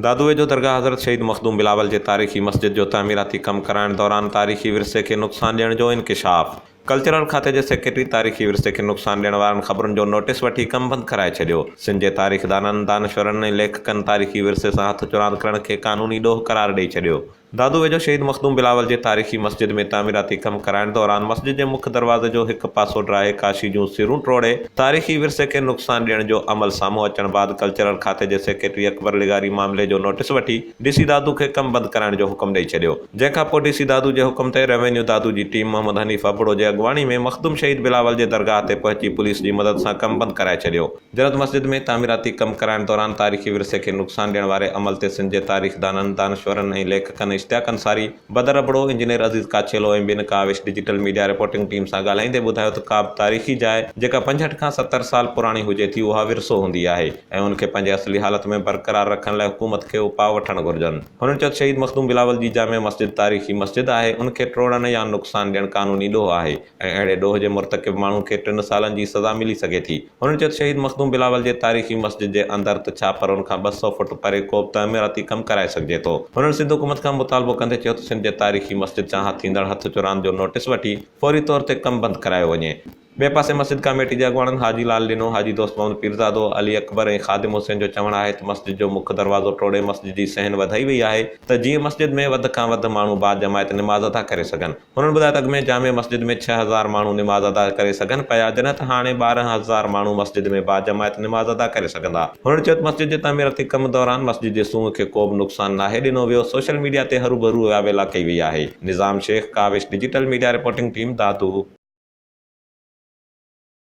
دادوء جو درگاهه حضرت شهيد مخدوم بلاول جي تاريخي مسجد جو تعميراتي ڪم ڪرائڻ دوران تاريخي ورثي کي نقصان ڏيڻ جو انڪشاف، ڪلچرل کاتي جي سيڪريٽري تاريخي ورثي کي نقصان ڏيڻ وارن خبرن جو نوٽيس وٺي ڪم بند ڪرائي ڇڏيو، سنڌ جي تاريخدانن، دانشورن ۽ ليکڪن تاريخي ورثي سان هٿ چراند ڪرڻ کي قانوني ڏوهه قرار ڏئي ڇڏيو. دادو ويجهو شهيد مخدوم بلاول جي تاريخي مسجد ۾ تعميراتي ڪم ڪرائڻ دوران مسجد جي مک دروازي جو هڪ پاسو ڊاهي ڪاشي جون سرون ٽوڙي تاريخي ورثي کي نقصان ڏيڻ جو عمل سامهون اچڻ بعد ڪلچرل کاتي جي سيڪريٽري اڪبر لغاري معاملي جو نوٽيس وٺي ڊي سي دادو کي ڪم بند ڪرائڻ جو حڪم ڏئي ڇڏيو جنهن کان پوء ڊي سي دادو جي حڪم تي روينيو دادو جي ٽيم محمد حنيف ابڙو جي اڳواڻي ۾ مخدوم شهيد بلاول جي درگاهه تي پهچي پوليس جي مدد سان ڪم بند ڪرائي ڇڏيو. جرد مسجد ۾ تعميراتي ڪم ڪرائڻ دوران تاريخي ورثي کي نقصان ڏيڻ واري عمل تي سنڌ جي تاريخدانن، دانشورن ۽ ليکڪن اشتياق انصاري، بدر ابڙو، انجنيئر عزيز ڪاڇيلو ۽ ٻين Kawish digital media reporting team سان ڳالهائيندي ٻڌايو ته ڪابه تاريخي جاء جيڪا پنجهٺ کان ستر سال پراڻي هجي ٿي اها ورثو هوندي آهي ۽ ان کي پنهنجي اصلي حالت ۾ برقرار رکڻ لاء حڪومت کي اپاء وٺڻ گهرجن. هنن چيو ته شهيد مخدوم بلاول جي جامع مسجد تاريخي مسجد آهي ان کي ٽوڙڻ يا نقصان ڏيڻ قانوني ڏوهه آهي ۽ اهڙي ڏوهه جي مرتڪب ماڻهو کي ٽن سالن جي سزا ملي سگهي ٿي. هن چيو ته شهيد مخدوم بلاول جي تاريخي مسجد جي اندر ته ڇا پر ان کان ٻه سؤ فوٽ پري ڪو به تعميراتي ڪم ڪرائي سگهجي ٿو. هنن سنڌ حڪومت کان مطالبو ڪندي چيو ته سنڌ جي تاريخي مسجد سان ٿيندڙ هٿ چراند جو نوٽيس وٺي فوري طور تي ڪم بند ڪرايو وڃي. ٻئي پاسي مسجد ڪاميٽي جي اڳواڻن حاجي لال ڏنو، حاجي دوست محمد پيرزادو، علي اڪبر ۽ خادم حسين جو چوڻ آهي ته مسجد جو مک دروازو ٽوڙي مسجد جي صحن وڌائي وئي آهي ته جيئن مسجد ۾ وڌ کان وڌ ماڻهو باجماعت نماز ادا ڪري سگهن. هنن ٻڌايو ته اڳ ۾ جامع مسجد ۾ ڇهه هزار ماڻهو نماز ادا ڪري سگهن پيا جڏهن ته هاڻي ٻارهن هزار ماڻهو مسجد ۾ باجماعت نماز ادا ڪري سگهندا. هنن چيو ته مسجد جي تعميراتي ڪم دوران مسجد جي سونهن کي ڪو به نقصان ناهي ڏنو ويو، سوشل ميڊيا تي هروڀرو ويا ويلا ڪئي وئي آهي. Nizam Shaikh, Kawish, digital media reporting team, Dadu.